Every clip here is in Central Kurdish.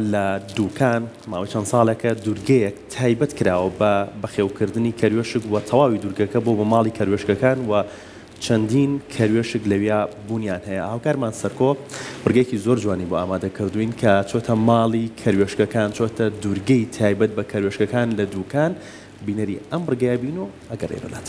لە دوکان ماوەی چەند ساڵێکە دورگەیەک تایبەت کراوە بە بەخێوکردنی کەروێشک و تەواوی دورگەکە بۆ بە ماڵی کەروێشکەکان و چەندین کەروێشک لەویا بونیان هەیە هاوکارمان سەرکۆ ڕگەیەکی زۆر جوانی بۆ ئامادە کردوین کە چۆتە ماڵی کەروێشکەکان چۆتە دورگەی تایبەت بە کەروێشکەکان لە دوکان بینەری ئەم ڕگەیە بین و ئەگەڕێینەلات.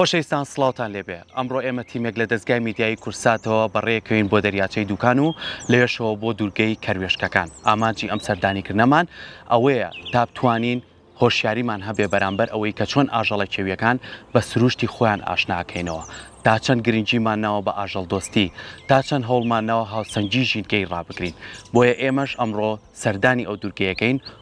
خۆشەویستان سڵاوتان لێبێ ئەمڕۆ ئێمە تیمێک لە دەستگای میدیایی کورساتەوە بەڕێکەوین بۆ دەریاچەی دوکان و لەوێشەوە بۆ دوورگەی کەروێشکەکان ئامانجی ئەم سەردانیکردنەمان ئەوەیە تا بتوانین هۆشیاریمان هەبێ بەرامبەر ئەوەی کە چۆن ئاژەڵە کێویەکان بە سروشتی خۆیان ئاشناکەینەوە تا چەند گرنگیمان ناوە بە ئاژەڵ دۆستی تا چەند هەوڵمان ناوە هاوسەنگی ژینگەی ڕابگرین بۆیە ئێمەش ئەمڕۆ سەردانی ئەو دوورگەیەکەین و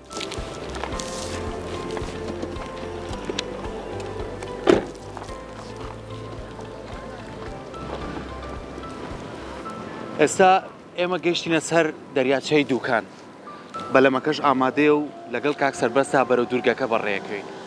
ئێستا ئێمە گەشتینە سەر دەریاچەی دووکان بەلەمەکەش ئامادەیە و لەگەڵ کاک سەربەستا بەرەو دوورگەکە بەڕێکەین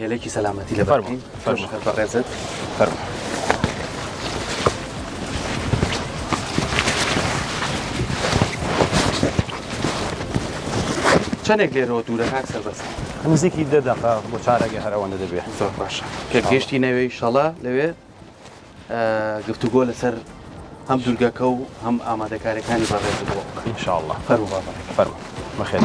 هێلێکی سەلامەتی لە فەرمین فەرمخەر بەڕێزت فەرمە چەندێک لێرەوە دوورە کاک سەربەست نزیکی دە دەقە بۆ چارەگە هەرەوەندە دەبێت زۆر باشە پێگەشتی نەوێی شەڵە لەوێ گفتوگۆ لەسەر هەم دوورگەکە و هەم ئامادەکارەکانی بەڕێز انشاءله فەرو فەرو بەخێن.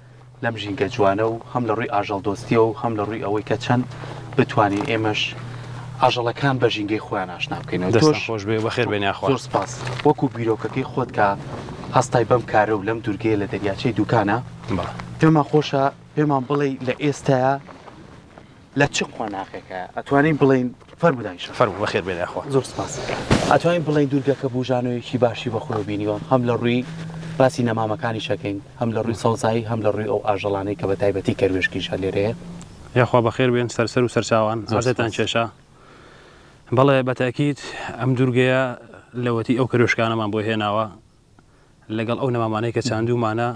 لەم ژینگە جوانە و هەم لە ڕووی ئاژەڵ دۆستیەوە و هەم لە ڕووی ئەوەی کە چەند بتوانین ئێمەش ئاژەڵەکان بە ژینگەی خۆیان ئاشنا بکەینەوە دەستان خۆش بێ بەخێر بێن یاخوا زۆر سپاس وەکو بیرۆکەکەی خۆت کە هەستای بەم کارە و لەم دوورگەیە لە دەریاچەی دووکانە بەڵێ پێمان خۆشە پێمان بڵێ لە ئێستایا لە چ قۆناغێکە ئەتوانین بڵێین فەرموو دایی شەڕ؟ فەرموو بەخێر بێن یاخوا. زۆر سپاس. ئەتوانین بڵێین دوورگەکە بووژانەوەیەکی باشی بە خۆیەوە بینیوە هەم لە ڕووی باسی نەمامەکانیش ئەکەین هەم لە ڕووی سەوزایی هەم لە ڕووی ئەو ئاژەڵانەی کە بە تایبەتی کەروێشکیش هەر لێرە هەیە. یاخوا بەخێر بێن سەرسەر و سەرچاوان. زۆر عەزێتان سپاس. کێشا. بەڵێ بە تەئکید ئەم دوورگەیە لەوەتی ئەو کەروێشکانەمان بۆ هێناوە لەگەڵ ئەو نەمامانەی کە چاندوومانە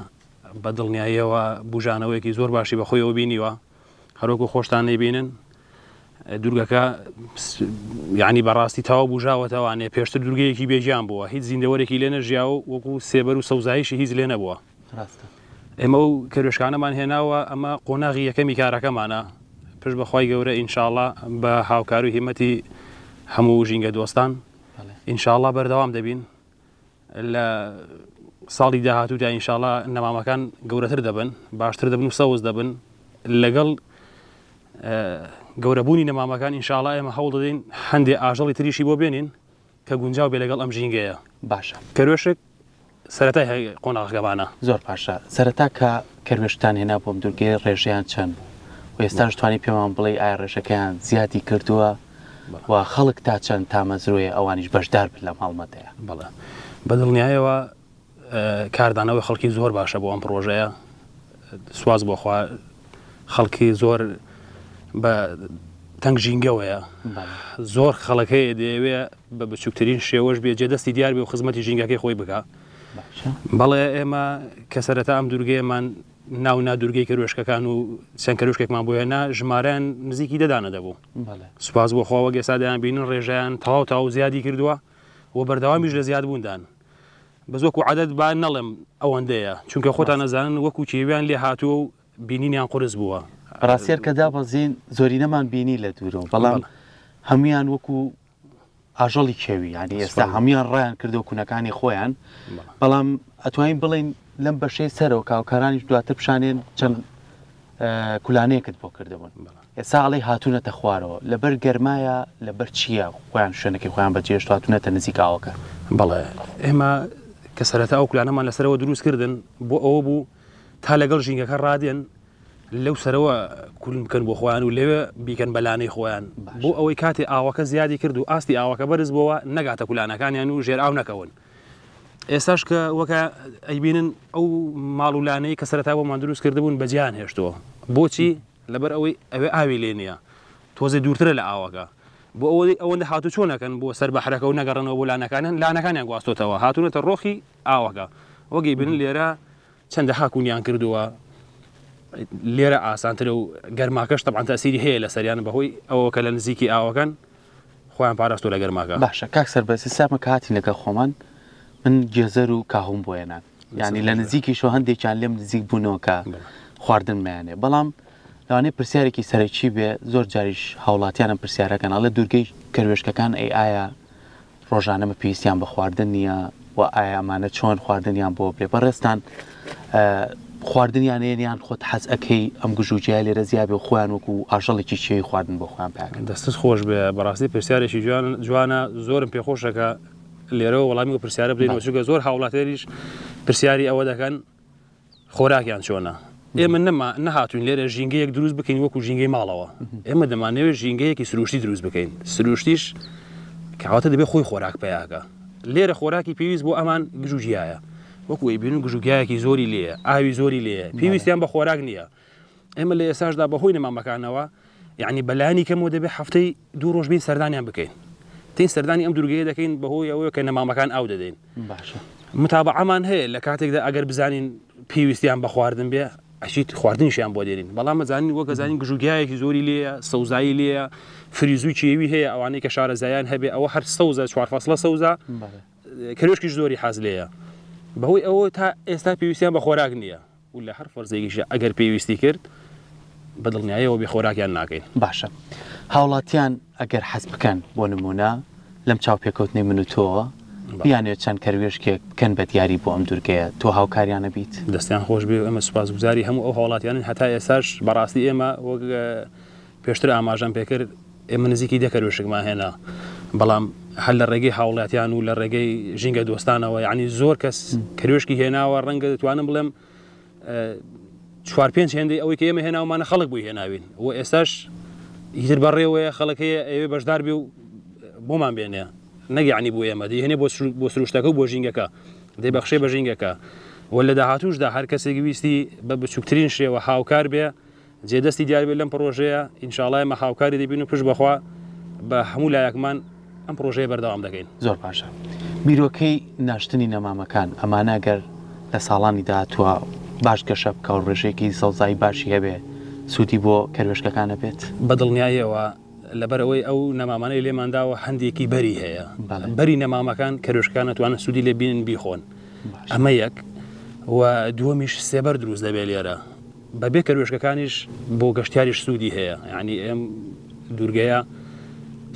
بە دڵنیاییەوە بووژانەوەیەکی زۆر باشی بە خۆیەوە بینیوە. هەروەکو خۆشتان دەیبینن دوورگەکە یعنی بەڕاستی تاوا بژاوەتەوانێ پێشتر دوورگەیەکی بێژیان بووە هیچ زیندەوەرێکی لێ نەژیا و وەکو سێبەر و سەوزایشی هیچ لێ نەبووە ئێمە و کەرێشکانەمان هێناوە ئەمە قۆناغی یەکەمی کارەکەمانە پشت بەخوای گەورە ئینشاالله بە هاوکار و هیمەتی هەموو ژینگە دۆستان ئینشاالله بەردەوام دەبین لە ساڵی داهاتوودا ئینشاڵا نەمامەکان گەورەتر دەبن باشتر دەبن و سەوز دەبن لەگەڵ گەورەبوونی نەمامەکان ئینشاڵا ئێمە هەوڵ دەدەین هەندێ ئاژەڵی تریشی بۆ بێنین کە گونجاو بێ لەگەڵ ئەم ژینگەیە باشە کەروێشک سەرەتای قۆناغەکەمانە زۆر باشە سەرەتا کە کەروێشتان هێنا بۆم دوورگەی ڕێژیان چەند بوو و ئێستاش توانی پێمان بڵێ ئایا ڕێژەکەیان زیادی کردووە و خەڵک تا چەند تامەزرۆیە ئەوانیش بەشدار بن لەم هەڵمەتەیە. بەڵێ بەدڵنیایەوە کاردانەوەی خەڵکی زۆر باشە بۆ ئەم پرۆژەیە سواز بۆخوا خەڵکی زۆر بە تەنگ ژینگەوەیە زۆر خەڵەکەی دەیەوێ بە بچووکترین شێوەش بێ جێ دەستی دیار بێ و خزمەتی ژینگەکەی خۆی بکە بەڵێ ئێمە کە سەرەتا ئەم دوورگەیەمان ناو نا دوورگەی کەروێشکەکان و چەند کەروشکێکمان بۆ هێنا ژمارەیان نزیکی دەدانە دەبوو سوپاس بۆ خۆوە گەسا دەیان بینن ڕێژیان تەواو تاو زیادی کردووە و بەردەوامیش لە زیاد بووندان بە زۆک و عادەت با نەڵێم ئەوەندەیە چونکە خۆتان نەزانن وەکو کێویان لێ هاتووە و بینینیان قرس بووە ڕاستێر کە دابەزین زۆرینەمان بینی لە دوورەوە بەڵام هەمویان وەکو ئاژەڵی کێوی یانی ئێستا هەموان ڕایان کردو کونەکانی خۆیان بەڵام ئەتوانین بڵین لەم بەشەی سەرەوە کاوکارانیش دواتر پیشانێن چەند کولانەیەکت بۆ کردبوون ئێستا ئەڵی هاتوونەتە خوارەوە لەبەر گەرمایە لەبەر چییە خۆیان شوێنەکەی خۆیان بەجێشت هاتوونەتە نزیکاوەکە بەڵێ ئێمە کە سەرەتا ئەو کولانەمان لەسەرەوە دروست کردن بۆ ئەوە بوو تا لەگەڵ ژینگەکە ڕادێن لەو سەرەوە کون بکەن بۆ خۆیان و لەوێ بیکەن بە لانەی خۆیان بۆ ئەوەی کاتێ ئاوەکە زیادی کرد و ئاستی ئاوەکە بەرز بۆوە نەگاتە کولانەکانیان و ژێر ئاو نەکەون ئێستاش کە وەکە ئەیبینن ئەو ماڵ و لانەی کە سەرتا بۆ مادروست کردبوون بەجیان هێشتووە بۆچی لەبەر ئەوەی ئەوێ ئاوی لێ نییە تۆزێ دوورترە لە ئاوەکە بۆ ئەوەی ئەوەندە هاتو چۆ نەکەن بۆ سەر بەحرەکە و نەگەڕنەوە بۆ لانەکانیان لانەکانیان گواستۆتەوە هاتوونەتە ڕۆخی ئاوەکە وەگەی بن لێرە چەندەها کونیان کردووە لێرە ئاسانترە و گەرماکەش تەبان تاسیری هەیە لە سەریان بەهۆی ئەوە کە لە نزیکی ئاوەکان خۆیان پاراست و لە گەرماکە باشە کاک سەربەز سامە کاتی لەگەڵ خۆمان من گێزەر و کاهوم بۆێنان ینی لە نزیکی شۆ هەندێکیان لێم نزیک بوونەوەکە خواردن میانێ بەڵام لەوانەیە پرسیارێکی سەرەکی بێ زۆر جاریش هاوڵاتیانم پرسیارەکەن ئەڵێ دوورگەی کەروێشکەکان ئەی ئایا ڕۆژانە بە پێویستیان بە خواردن نییە و ئایا ئەمانە چۆن خواردنیان بۆ بێ بەڕێزتان خواردنیانەیە یان خۆت حەز ئەەکەی ئەم گژوجیای لێرە زیابێ و خۆیان وەکو ئاژەڵێکی چێوی خواردن بۆ خۆیان پێکن دەستت خۆش بێ بەڕاستی پرسیارێکی جوان جوانە زۆرم پێخۆشەکە لێرەوە وەڵامی و پرسیارە بدەین وچگە زۆر هاوڵاتێریش پرسیاری ئەوە دەکەن خۆراکیان چۆنە؟ ئێمە نەما نەهاتوین لێرە ژینگەیەک دروست بکەین وەکو ژینگەی ماڵەوە ئێمە دەمانەوێت ژینگەیەکی سروشتی دروست بکەین سروشتیش کەواتە دەبێت خۆی خۆراک پیاکە لێرە خۆراکی پێویست بۆ ئەمان گژوگیایە وەکوی بین و گژوگیایەکی زۆری لێە ئاوی زۆری لێە پێویستیان بە خۆراک نییە ئێمە لە ئێساشدا بەهۆی نەمامەکانەوە یعنی بەلانی کەمەوە دەبێت هەفتەی دوو ڕۆژ بین سەردانیان بکەین تین سەردانی ئەم دوورگەیە دەکەین بەهۆی ئەوەیە کە نەمامەکان ئاو دەدەین متابعامان هەیە لە کاتێکدا ئەگەر بزانین پێویستیان بە خواردن بێ ئەشیت خواردنیشیان بۆ دێنین بەڵام مەزانین وەکە زانین گژوگیایەکی زۆری لێ سەوزایی لێ فریزوی چێوی هەیە ئەوانەی کە شارە زایان هەبێ ئەوە هەر سەوزە چوار فەسلە سەوزە کرێشکیش زۆری حاز لێە بەهۆی ئەوە تا ئێستا پێویستیان بە خۆراک نییە و لە هەر فەرزێکیشدا ئەگەر پێویستی کرد بە دڵنیایەوە بێ خۆراکیان ناکەین. باشە هاوڵاتیان ئەگەر حەز بکەن بۆ نموونە لەم چاوپێکەوتنەی من و تۆوە بیانوێت چەند کەروێشکێک بکەن بە دیاری بۆ ئەم دوورگەیە تۆ هاوکاریانە بیت دەستیان خۆش بێ ئەمە سوپاس گوزاری هەموو ئەو هاوڵاتیانن هەتا ئێساش بەڕاستی ئێمە وەک پێشتر ئاماژەم پێکرد ئێمە نزیکی دە کەروێشکمان هێنا بەڵام هەر لە ڕێگەی هاوڵاتیان و لە ڕێگەی ژینگە دۆستانەوە یعنی زۆر کەس کەروێشکی هێناوە ڕەنگە دەتوانم بڵێم چوار پێنج هێندەی ئەوەی کە ئێمە هێناومانە خەڵک بووی هێناوین و ئێستاش هیتر بەڕێوەیە خەڵەکەیە ئەوێ بەشدار بێ و بۆمان بێنێ نەگەعنی بۆ ئێمە دێنێ بۆ سروشتەکە و بۆ ژینگەکە دەی بەخشێ بە ژینگەکە و لە داهاتوشدا هەر کەسێک ویستی بە بچووکترین شێوە هاوکار بێ جێ دەستی دیار بێت لەم پڕۆژەیە ئینشاڵا ئێمە هاوکاری دەبین و پشت بەخوا بە هەموو لایەکمان ئەم پرۆژەیە بەردەوام دەکەین زۆر باشە بیرۆکەی ناشتنی نەمامەکان ئەمانە گەر لە ساڵانی داهاتوە باش گەشە بکە و ڕێژەیەکی سەوزایی باشی هەبێ سوودی بۆ کەروێشکەکانە بێت بە دڵنیاییەوە لەبەرەوەی ئەو نەمامانەی لێمانداوە هەندێکی بەری هەیە بەری نەمامەکان کەروێشکان نتوانن سوودی لێ بینن بیخۆن ئەمە یەک و دووەمیش سێبەر دروست دەبێت لێرە بەبێ کەروێشکەکانیش بۆ گەشتیاریش سوودی هەیە ینی ئێم دوورگەیە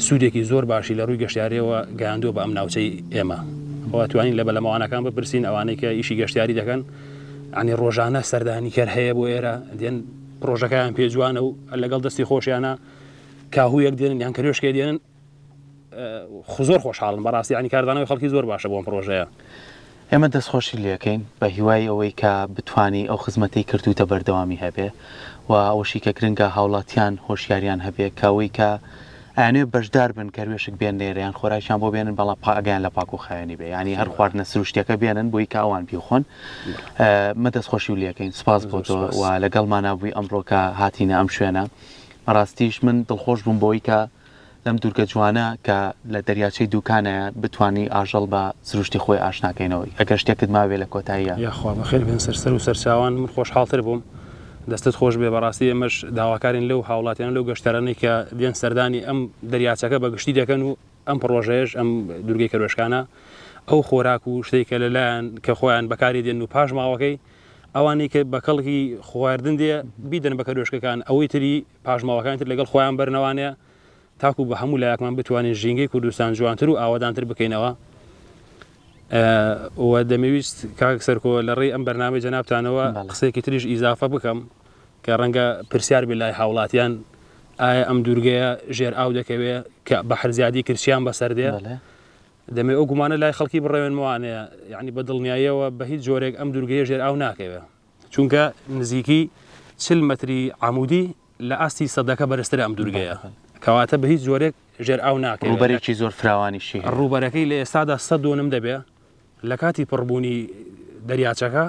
سوودێکی زۆر باشی لە ڕووی گەشتارەوە گەیاندووە بە ئەم ناوچەی ئێمە بۆ توانین لە بەلەمەوانەکان بپرسین ئەوانەی کە ئیشی گەشتیاری دەکەن ئەنی ڕۆژانە سەردانی کەر هەیە بۆ ئێرە دێن پرۆژەکەیان پێجوانە و لەگەڵ دەستی خۆشیانە کاهویەک دێنن یان کەێشکێ دێنن زۆر خۆشحاڵم بەڕاستی یانی کاردانەوەی خەڵکی زۆر باشە بۆم پرۆژەیە. ئێمە دەستخۆشی لێکەین بەهیوای ئەوەی کە بتوانی ئەو خزمەتەی کردووتە بەردەوامی هەبێ و ئەوەشی کە گرنگە هاوڵاتیان هۆشیاریان هەبێ کە ئەوەی کە ئەیانەوێ بەشدار بن کەروێشک بێن نێرە یان خۆراکیان بۆ بێنن بەڵام پا ئەگەیان لە پاکو خاوێنی بێ یانی هەر خواردنە سروشتیەکە بێنن بۆی کە ئەوان بیخۆن مە دەستخۆشی و لەکەین سپاس بۆ تۆ و لەگەڵمانە بووی ئەمڕۆکە هاتینە ئەم شوێنە بەڕاستیش من دڵخۆش بووم بۆی کە لەم دوورگە جوانە کە لە دەریاچەی دووکانایە بتوانی ئاژەڵ بە سروشتی خۆی ئاشنا کەینەوە ئەگەر شتێکت مابێ لە کۆتاییا. یاخوا بەخێر بێن سەر سەر و سەرچاوان من خۆشحاڵتر بووم دەستت خۆش بێ بەڕاستی ئێمەش داواکارین لەو هاوڵاتیانە لەو گەشتەرانەی کە دێن سەردانی ئەم دەریاچەکە بە گشتی دەکەن و ئەم پڕۆژەیەش ئەم دوورگەی کەروێشکانە ئەو خۆراک و شتەی کە لە لایان کە خۆیان بەکاری دێن و پاشماوەکەی ئەوانەی کە بە کەڵکی خواردن دێ بیدەن بە کەروێشکەکان ئەوەی تری پاشماوەکانی تر لەگەڵ خۆیان بەرنەوانەیە تاکو بە هەموو لایەکمان بتوانین ژینگەی کوردستان جوانتر و ئاوادانتر بکەینەوە و دەمەویست کاک سەرکۆ لە ڕێی ئەم بەرنامەی جەنابتانەوە قسێکی تریش ئیزافە بکەم کە ڕەنگە پرسیار بێ لای هاوڵاتیان ئایا ئەم دوورگەیە ژێر ئاو دەکەوێت کە بە هەرزیادی کرسیان بەسەر دێ دەمێ ئەو گومانە لای خەڵکی بڕێنموانەیە یعنی بە دڵنیاییەوە بە هیچ جۆرێک ئەم دوورگەیە ژێر ئاو ناکەوێت چونکە نزیکی چل متری عمودی لە ئاستی سەدەکە بەرزتر ئەم دوورگەیە کەواتە بە هیچ جۆرێک ژێر ئاو ناکەێت ڕوبەرێکی زۆر فراوانیشی ڕوبەرەکەی لە ئێستادا سە دۆنم دەبێ لە کاتی پڕبوونی دەریاچەکە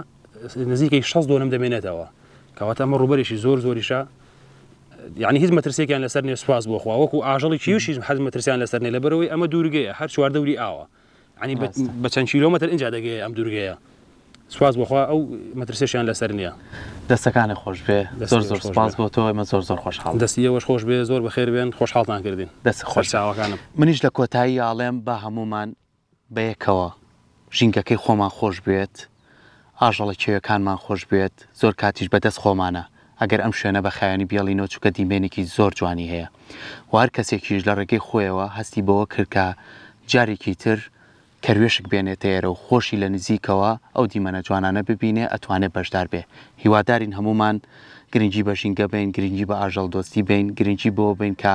نزیکەی 6 دۆنم دەمێنێتەوە کەواتە ئەمە ڕوبەرێکی زۆر زۆریشە یعنی هیچ مەترسێکیان لەسەر نێ سواز بۆخوا وەکو ئاژەڵی کیوشیش حەز مەترسیان لەسەر نێ لە بەرەوەی ئەمە دوورگەیە هەر چواردەوری ئاوە عنی بە چەند کیلۆمەتر ئینجا دەگەیە ئەم دوورگەیە سوپاس بۆخوا ئەو مەترسێشیان لەسەر نییە دەستەکانی خۆش بێ زۆر زۆر سپاس بۆ تۆ ئێمە زۆر زۆر خۆش حاڵ دەستی ئێوەش خۆش بێ زۆر بەخێر بێن خۆش حاڵتان کردین دەست خۆش چاوەکانم منیش لە کۆتایی ئاڵێم با هەمومان بەیەکەوە ژینگەکەی خۆمان خۆش بێت ئاژەڵە کێویەکانمان خۆش بوێت زۆر کاتیش بە دەست خۆمانە ئەگەر ئەم شوێنە بە خایەنی بێڵینەوە چونکە دیمەنێکی زۆر جوانی هەیە و هەر کەسێکیش لە ڕێگەی خۆیەوە هەستی بەوە کرد کە جارێکی تر کەروێشک بێنێتە ئێرە و خۆشی لە نزیکەوە ئەو دیمەنە جوانانە ببینێ ئەتوانێ بەشدار بێ هیوادارین هەموومان گرنگی بە ژینگە بەین گرنگی بە ئاژەڵ دۆستی بەین گرنگی بەوە بەین کە